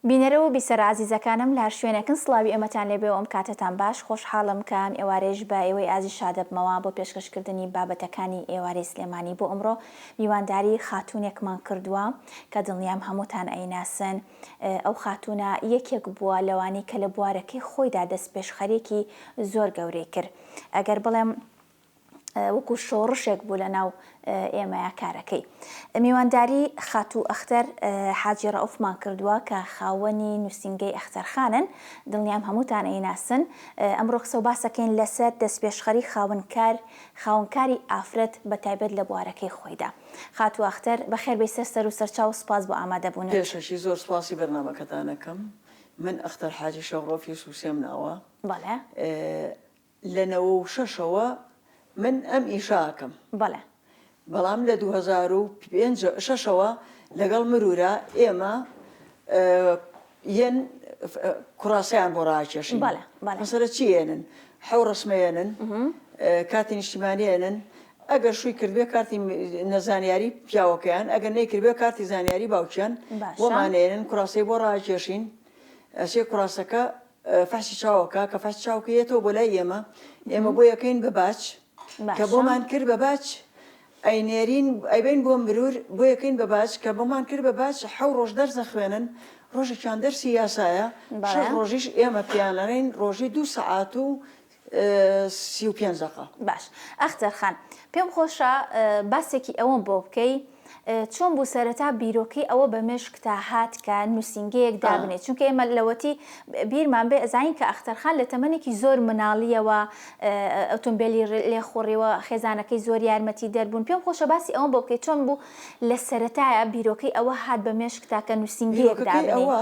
بینەرە و بیسەرە ئازیزەکانم لە هەر شوێنێکن سڵاوی ئێمەتان لێبێ و ئەم کاتەتان باش، خۆشحاڵم کە ئەم ئێوارەیەش بە ئێوەی ئازیز شادەبمەوە بۆ پێشکەشکردنی بابەتەکانی ئێوارەی سلێمانی بۆ ئەمڕۆ میوانداری خاتوونێکمان کردووە کە دڵنیام هەمووتان ئەیناسن ئەو خاتوونە یەکێک بووە لەوانەی کە لە بوارەکەی خۆیدا دەستپێشخەریەکی زۆر گەورەی کرد ئەگەر بڵێم وەکو شۆڕشێک بوو لە ناو ئێمەیا کارەکەی. میوانداری خاتوو ئەختەر حاجی ڕەئوفمان کردووە کە خاوەنی نووسینگەی ئەختەرخانن، دڵنیام هەمووتان ئەیناسن. ئەمڕۆ قسە و باسەکەین لەسەر دەستپێشخەری خاوەن کار، خاوەن کاری ئافرەت بە تایبەت لە بوارەکەی خۆیدا. خاتوو ئەختەر بەخێر بێی سەر سەر و سەرچاو و سپاس بۆ ئامادەبوونت. پێشەکی زۆر سپاسی بەرنامەکەتان ئەکەم. من ئەختەر حاجی شەوڕۆفی سوسێم ناوە. بەڵێ. لە نەوە و شەش ەوە من ئەم ئیشە ئەکەم. بەڵێ. بەڵام لە دوو هەزار و پێنج شەش ەوە لەگەڵ مرورا ئێمە یەن کوراسەیان بۆ ڕاکێشن. بەڵێ بەڵێ. مەسەلە چی یەنن؟ حەو ڕەسمە یەنن، کارتی نیشتیمانی یەنن، ئەگەر شووی کردبێ کارتی نەزانیاری پیاوەکەیان، ئەگەر نەیکردبێ کارتی زانیاری باوکیان، بۆمان یەنن کوراسەی بۆ ڕاکێشین، ئەچێ کوراسەکە. فەحشی چاوەکە کە فەحشی چاوکە یەتەوە بۆ لای ئێمە ئێمە بۆ یەکەین بە باچ کە بۆمان کرد بە باچ ئەینێرین ئەیبین بۆ مرور بۆ یەکەین بە باچ کە بۆمان کرد بە باچ حەو ڕۆژ دەرزە خوێنن ڕۆژێکیان دەرسی یاسایە شەش ڕۆژیش ئێمە پیانەرین ڕۆژی دوو سەعات و سی و پێنج دەقە. باش ئەختەر خان پێم خۆشە باسێکی ئەوەم بۆ بکەی چۆن بوو سەرەتا بیرۆکەی ئەوە بە مێشکتا هات کە نووسینگەیەک دابنێ چونکە ئێمە لەوەتی بیرمان بێ ئەزانین کە ئەختەر خان لە تەمەنێکی زۆر مناڵیەوە ئۆتۆمبێلی لێ خوڕیوە خێزانەکەی زۆر یارمەتی دەربوون پێم خۆشە باسی ئەوەم بۆ بکەی چۆن بوو لە سەرەتایە بیرۆکەی ئەوە هات بە مێشکتا کە نووسینگەیەک دابنێ. بیرۆکەکەی ئەوە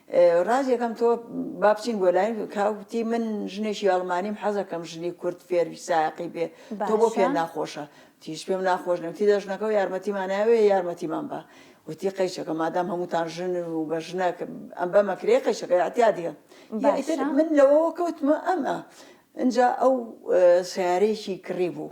ڕاستیەکەم تۆ با بچین بۆ لای کاکوتی من ژنێکی ئەڵمانیم حەزەکەم ژنی کورد فێری ساقی بێ تۆ بۆ پێ ناخۆشە تیش پێم ناخۆش نەوتی دەژنەکە و یارمەتیمانناوێ یارمەتیمان بە وتی قەیچەکە مادام هەمووتان ژن و بە ژنە ئەم بە مەکرێ قەیچەکە ئەتیادە من لەوەوە کەوتمە ئەمە. ئەجا ئەو سیارێکی کڕی بوو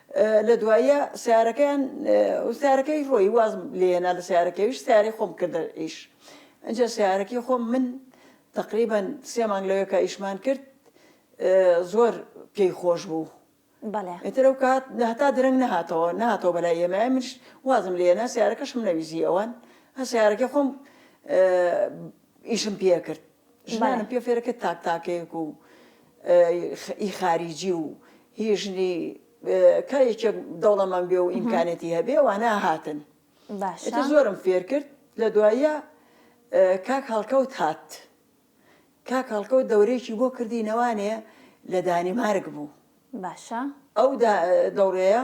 لە دواییە سەیارەکەیان سەیارەکەی ڕۆی وازم لێنا لە سەیارەکەویش سیارەی خۆم کردە ئیش ئەجا سیارەکەی خۆم من تقریبەن سێ مانگ لەوێکە ئیشمان کرد زۆر پێی خۆش بوو ئەتر ئەو کات هەتا درەنگ نەهاتەوە ناتەوە بەلای ئێمە منش وازم لێنا سیارەکەشم نەویزی ئەوان هە سیارەکە خۆم ئیشم پێ کرد ژنانم پێ فێرە کە تاک تاکێک و ئی خاریجی و هی ژنی کە یەکێک دەوڵەمەند بێ و ئیمکانێتی هەبێ وانە هاتن باشە زۆرم فێر کرد لە دواییە کاک هەڵکەوت هات کاک هەڵکەوت دەورێکی بۆ کردی نەوانێ لە دانیمارک بوو باشە ئەو دەوڕەیە